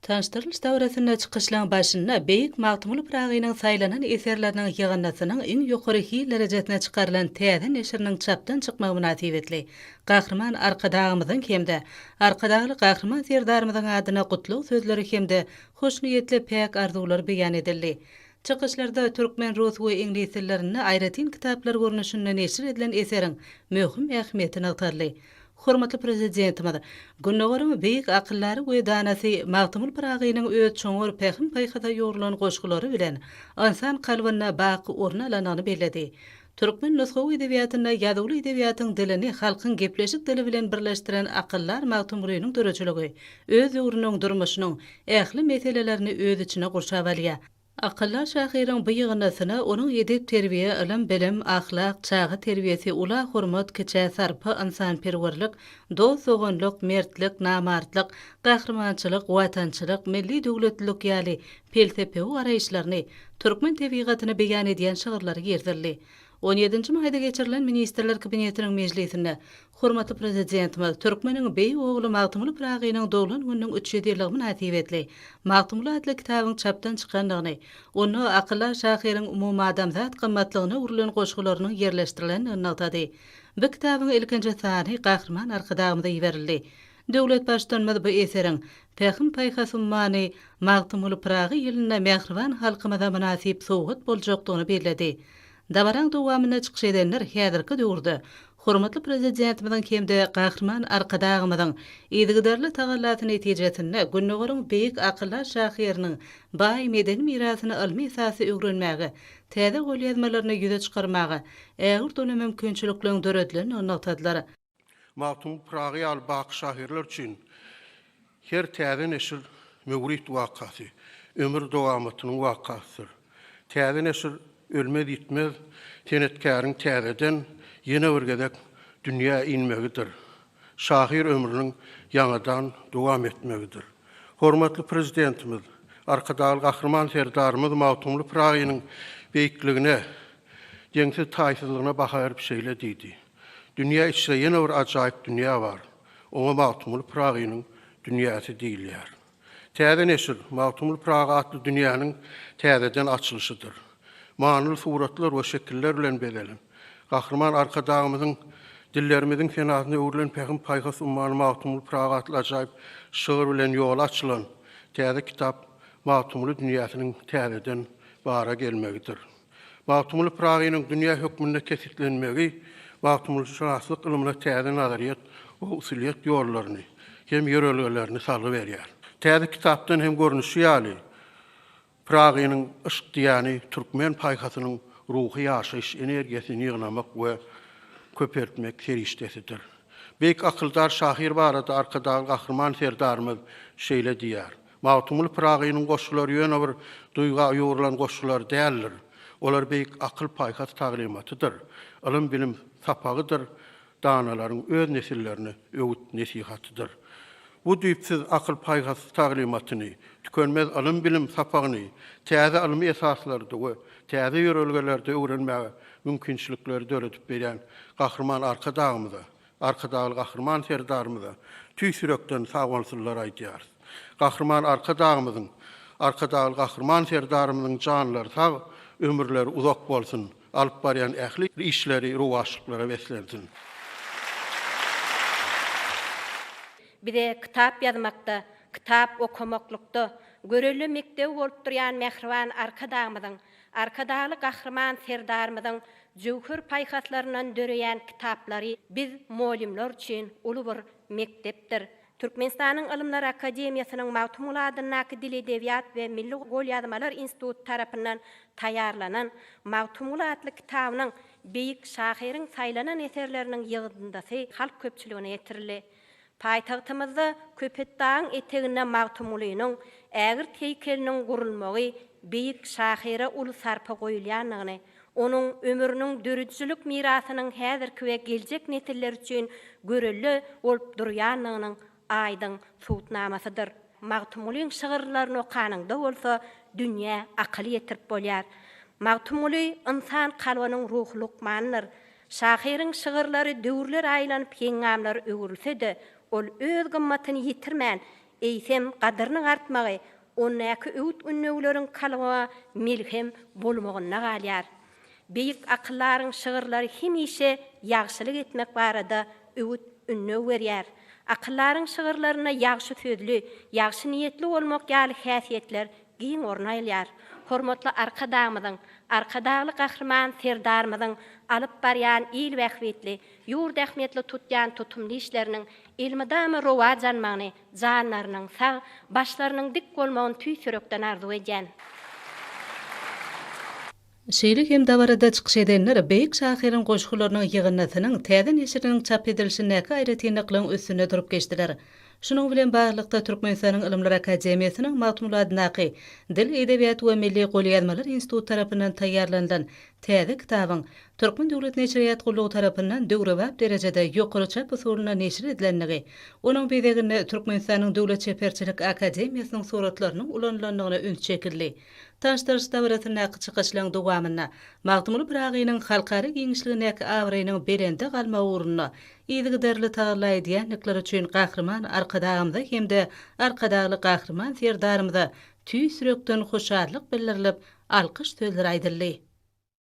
Tanyşdyrylyş dabarasynda çykyşlaryň başynda beýik Magtymguly Pyragynyň saýlanan eserleriniň ýygyndysynyň iň ýokary hil derejesine çykarylan täze neşiriniň çapdan çykmagy mynasybetli Gahryman Arkadagymyzyň hem-de Arkadagly Gahryman Serdarymyzyň adyna gutlag sözleri hem-de hoşniýetli päk arzuwlar beýan edildi. Çykyşlarda türkmen, rus we iňlis dillerinde aýratyn kitaplar görnüşinde neşir edilen eseriň möhüm ähmiýeti nygtaldy. Hormatly Prezidentimiz Gündogaryň beýik akyldary we danasy Magtymguly Pyragynyň öz çuňňur pähim-paýhasa ýugrulan goşgulary bilen ynsan kalbynda baky orun alandygyny belledi. Türkmen nusgawy edebiýatynda ýazuwly edebiýatyň dilini halkyň gepleşik dili bilen birleşdiren akyldar Magtymgulynyň döredijiligi öz döwrüniň durmuşynyň ähli meselelerini öz içine gurşap alýar. Akyldaş şahyryň bu ýygyndysyna onuň edep-terbiýe, ylym-bilim, ahlak, çaga terbiýesi, ula hormat, kiçä sarpa, ynsanperwerlik, dost-doganlyk, mertlik, namartlyk, gahrymançylyk, watançylyk, milli döwletlilik ýaly pelsepewi garaýyşlaryny, türkmen tebigatyny beýan edýän şygyrlary girizildi. On ýedinji maýda geçirilen Ministrler Kabinetiniň mejlisinde Hormatly Prezidentimiz türkmeniň beýik ogly Magtymguly Pyragynyň doglan gününiň üç ýüz ýyllygy mynasybetli Magtymguly atly kitabyň çapdan çykandygyny, onda akyldar şahyryň umumadamzat gymmatlygyna urlan goşgularynyň ýerleşdirilendigini nygtady. Bu kitabyň ilkinji sany Gahryman Arkadagymyza iberildi. Döwlet Baştutanymyz bu eseriň Pähim-paýhas ummany Magtymguly Pyragy ýylynda mähriban halkymyza mynasyp sowgat boljakdygyny belledi. Dabaraň dowamynda çykyş edenler häzirki döwürde hormatly Prezidentimiziň hem-de Gahryman Arkadagymyzyň yzygiderli tagallasy netijesinde Gündogaryň beýik akyldar şahyrynyň baý medeni mirasyny ylmy esasda öwrenmäge, täze golýazmalaryny ýüze çykarmaga ägirt uly mümkinçilikliň döredilendigini nygtadylar. Magtymguly Pyragy ýaly baky şahyrlar üçin her täze neşir möwrit wakasy, ömür dowamatynyň wakasydyr. Täze neşir ölmez-ýitmez senetkäriň täzeden ýene bir gezek dünýä inmegidir, şahyr ömrüniň ýaňadan dowam etmegidir. Hormatly Prezidentimiz Arkadagly Gahryman Serdarymyz Magtymguly Pyragynyň beýikligine, deňsiz-taýsyzlygyna baha berip şeýle diýdi. Dünýä içre ýene bir ajaýyp dünýä bar. Oňa Magtymguly Pyragynyň dünýäsi diýilýär. Täze neşir, Magtymguly Pyragy atly dünýäniň täzeden açylyşydyr. Manyly suratlar we şekiller bilen bezelen, Gahryman Arkadagymyzyň Dillerimiziň senasyna öwrülen Pähim-paýhas ummany Magtymguly Pyragy atly ajaýyp şygyr bilen ýola açylan täze kitap Magtymguly dünýäsiniň täzeden bara gelmegidir. Magtymguly Pyragynyň dünýä hökmünde kesgitlenmegi magtymgulyşynaslyk ylmyna täze nazaryýet we usulyýet ýollaryny hem ýörelgelerini salgy berýär. Täze kitapdan hem görnüşi ýaly, Pyragynyň yşk diýýäni türkmen paýhasynyň ruhy ýaşaýyş energiýasyny ýygnamak we köpeltmek serişdesidir. Beýik akyldar şahyr barada Arkadagly Gahryman Serdarymyz şeýle diýýär, Magtymguly Pyragynyň goşgulary ýöne bir duýga ýugrulan goşgular däldir. Olar beýik akyl-paýhas taglymatydyr, ylym-bilim sapagydyr, danalaryň öz nesillerine öwüt-nesihatydyr. Bu düýpsüz akyl-paýhas taglymatyny, tükenmez ylym-bilim sapagyny täze ylmy esaslarda we täze ýörelgelerde öwrenmäge mümkinçilikleri döredip berýän Gahryman Arkadagymyza, Arkadagly Gahryman Serdarymyza tüýs ýürekden sagbolsunlar aýdýarys. Gahryman Arkadagymyzyň, Arkadagly Gahryman Serdarymyzyň janlary sag, ömürleri uzak bolsun, alyp barýan ähli işleri rowaçlyklara beslensin! Bize kitap ýazmakda, kitap okamaklykda görelde mekdebi bolup durýan mähriban Arkadagymyzyň Arkadagly Gahryman Serdarymyzyň jöwher paýhaslaryndan döreýän kitaplary biz, mugallymlar üçin uly bir mekdepdir. Türkmenistanyň Ylymlar akademiýasynyň Magtymguly adyndaky Dil-edebiýat we milli golýazmalar instituty tarapyndan taýýarlanan Magtymguly atly kitabynyň beýik şahyryň saýlanan eserleriniň ýygyndysy halk köpçüligine ýetirildi. Paýtagtymyzda Köpetdagyň eteginde Magtymgulynyň ägirt heýkeliniň gurulmagy beýik şahyra uly sarpa goýulýandygyny, onuň ömrüniň döredijilik mirasynyň häzirki we geljek nesiller üçin görelde bolup durýandygynyň aýdyň subutnamasydyr. Magtymgulyň şygyrlaryny okanyňda bolsa dünýä akyl ýetirip bolýar. Magtymguly ynsan kalbynyň ruhy lukmanydyr. Şahyryň şygyrlary döwürler aýlanyp heňňamlar öwrülse-de, ol öz gymmatyny ýitirmän, eýsem, gadyrynyň artmagy ondäki öwüt-ünnewleriň kalbyňa melhem bolmagynda galýar. Beýik akyldaryň şygyrlary hemişe ýagşylyk etmek barada öwüt-ündew berýär. Akyldaryň şygyrlarynda ýagşy sözli, ýagşy niýetli bolmak ýaly häsiýetler giň orun alýar. Hormatly Arkadagymyzyň, Arkadagly Gahryman Serdarymyzyň alyp barýan il bähbitli, ýurt ähmiýetli tutýan tutumly işleriniň elmydama rowaç almagyny, janlarynyň sag, başlarynyň dik bolmagyny tüýs ýürekden arzuw edýän. Şeýle hem dabarada çykyş edenler beýik şahyryň goşgularynyň ýygyndysynyň täze neşiriniň çap edilişindäki aýratynlyklaryň üstünde durup geçdiler. Şunuň bilen baglylykda, Türkmenistanyň Ylymlar akademiýasynyň Magtymguly adyndaky Dil, edebiýat we milli golýazmalar instituty tarapyndan taýýarlanylan täze kitabyň Türkmen döwlet neşirýat gullugy tarapyndan döwrebap derejede ýokary çap usulynda neşir edilendigi, onuň bezeginde Türkmenistanyň Döwlet çeperçilik akademiýasynyň suratlarynyň ulanylandygyna üns çekildi. Taşdars dabarasyndaky çykyşlaryň dowamynda Magtymguly Pyragynyň halkara giňişligindäki abraýynyň belende galmagy ugrunda yzygiderli tagalla edýändikleri üçin Gahryman Arkadagymyza hem-de Arkadagly Gahryman Serdarymyza tüýs ýürekden hoşallyk bildirilip, alkyş sözleri aýdyldy.